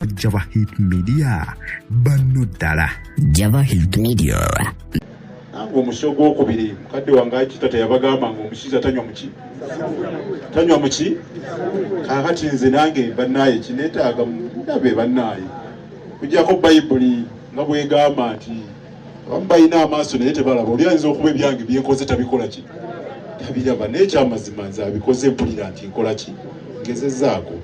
Java Hit Media banno ddala Java Hit Media nange omusi ogwokubiri mukadde wange akita teyabagamba nga omusiza tanywa muki tanywa muki kakati nze nange bannaaye kinetaaga ndabe bannaaye kujjako bayibuli nga bwegamba nti abamu balina amaaso naye tebalaba oli ayinza okuba ebyange byenkoze tabikola ki tabiraba naye ekyamazima nze abikoze mpulira nti nkola ki ngezezaako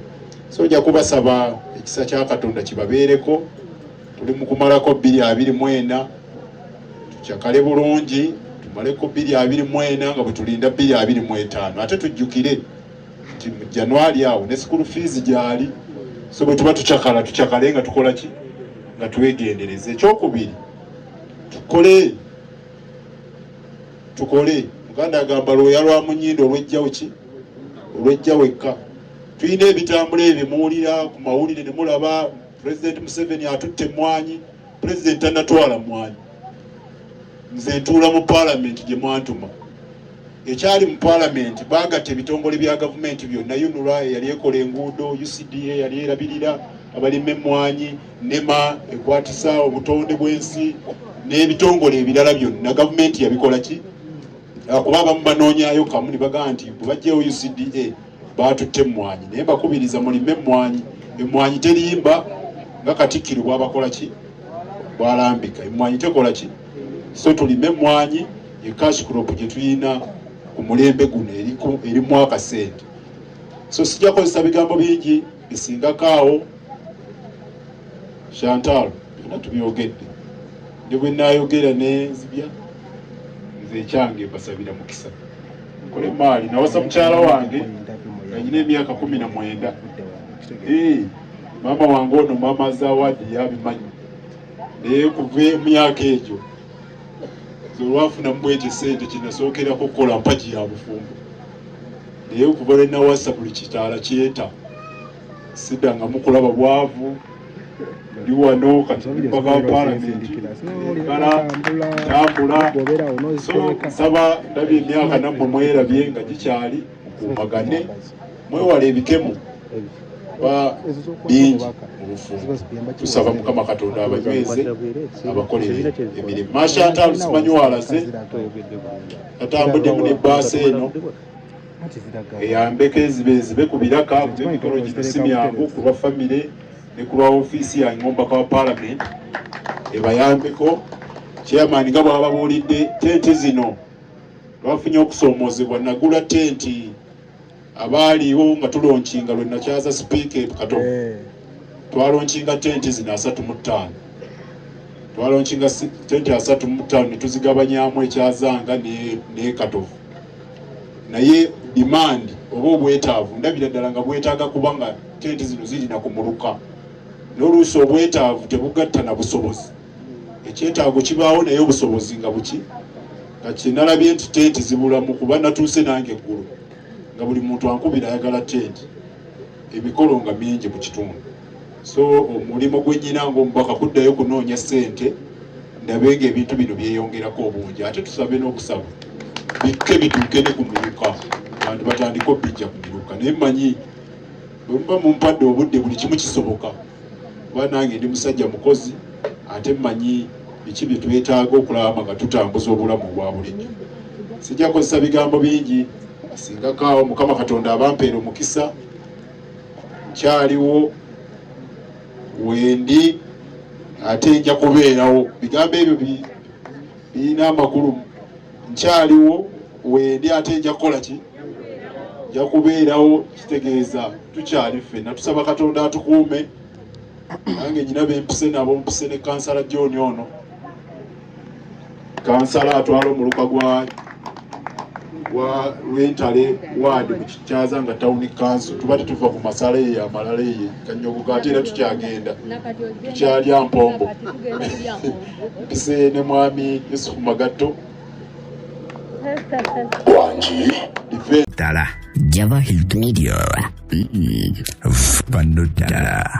so nja kubasaba ekisa kya katonda kibabeereko tuli mu kumalako bbiri abiri mu ena tucakale bulungi tumaleko bbiri abiri mu ena nga bwe tulinda bbiri abiri mu etaano ate tujjukire nti mu januari awo ne sikulu fiizi gyali so bwe tuba tucakala tucakale nga tukola ki nga twegendereza ekyokubiri tukole tukole muganda agamba lwoya lwa munyindo olwejjawo ki olwejja wekka Tulina ebitambula ebyo muwulira ku mawulire ne mulaba Pulezidenti Museveni atutte emmwanyi, Pulezidenti tanatwala mmwanyi. Nze ntuula mu Palamenti gye mwantuma. Ekyali mu Palamenti baagatta ebitongole bya gavumenti byonna, UNRA eyali ekola enguudo, UCDA eyali erabirira abalima emmwanyi, NEMA ekwatisa obutonde bw'ensi n'ebitongole ebirala byonna gavumenti yabikola ki? Kuba abamu banoonyayo kamu ne bagamba nti bwe bajjayo UCDA baatutte emmwanyi naye mbakubiriza mulime emmwanyi emmwanyi terimba nga katikkiro bwabakola ki bwalambika emmwanyi tekola ki so tulime emmwanyi ekash crop gye tulina ku mulembe guno erimu akasente so sijja kozesa bigambo bingi bisingakaawo chantal byonna tubyogedde ne bwe naayogera nenzibya nze ekyange mbasabira mukisa kola emmaali nawasa mukyala wange nga nyina emyaka kumi na mwenda eh, maama wange ono maama zawadi yabimanyi naye kuva emyaka egyo olwafunamu bwekyo esente kyenasookerako okukola mpagi ya bufumbo naye okuva lwenawasa buli kitaala kyeta sidangamu kulaba bwavu ndi wano kati mpaka wa palamenti kala tambula so nsaba ndabye emyaka nammwe mwerabye nga gikyali mukuumagane mwewala ebikemo ba bingi mubufumbo tusaba mukama katonda abanyweze abakolere emirimu mashantalo simanyi walase atambuddemu ne baasi eno eyambeko enzibe enzibe ku biraka kuba emikolo gino si myangu ku lwa famire ne ku lwa ofiisi yange ng'omubaka wa paalamenti ebayambeko chairman nga bwababuulidde tenti zino lwafunye okusoomoozebwa nagula tenti abaaliwo nga tulonkinga lwe nakyaza sipiika ekato eh. twalonkinga tenti zino asatu mu ttaano twalonkinga tenti asatu mu ttaano ne tuzigabanyamu ekyazanga n'ekatovu naye demand oba obwetaavu ndabira ddala nga bwetaaga kuba nga tenti zino zirina ku muluka n'oluusi obwetaavu tebugatta na busobozi ekyetaago kibaawo naye obusobozi nga buki nga kyenalabye nti tenti zibulamu kuba natuuse nange eggulu nga buli muntu ankubira ayagala tenti emikolo nga mingi mu kitundu so omulimu gwenyina ngaomubaka kuddayo kunoonya sente ndabe nga ebintu bino byeyongerako obungi ate tusabe n'okusaba bikke bituuke ne ku miruka bantu batandika obijja ku miruka naye manyi bwemuba mumpadde obudde buli kimu kisoboka kuba nange ndi musajja mukozi ate manyi biki bye twetaaga okulaba nga tutambuza obulamu obwa bulijjo sijja kozesa bigambo bingi singakaawo mukama katonda abampeera omukisa nkyaliwo wendi ate nja kubeerawo bigambo ebyo birina amakulu nkyaliwo wendi ate nja kukola ki nja kubeerawo kitegeeza tukyali ffenna tusaba katonda atukuume nange nyina bempise nabo mpise ne kansala joni ono kansala atwala omuluka gwa wa lwentale waadi mu kikyaza nga tawuni kanso tuba tetuva ku masala eyo yamalala eyo kanyogoga ate era tukyagenda tukyalya mpombo mpise ne mwami yusufu magatto wangi ddala java hilt media mm. banno ddala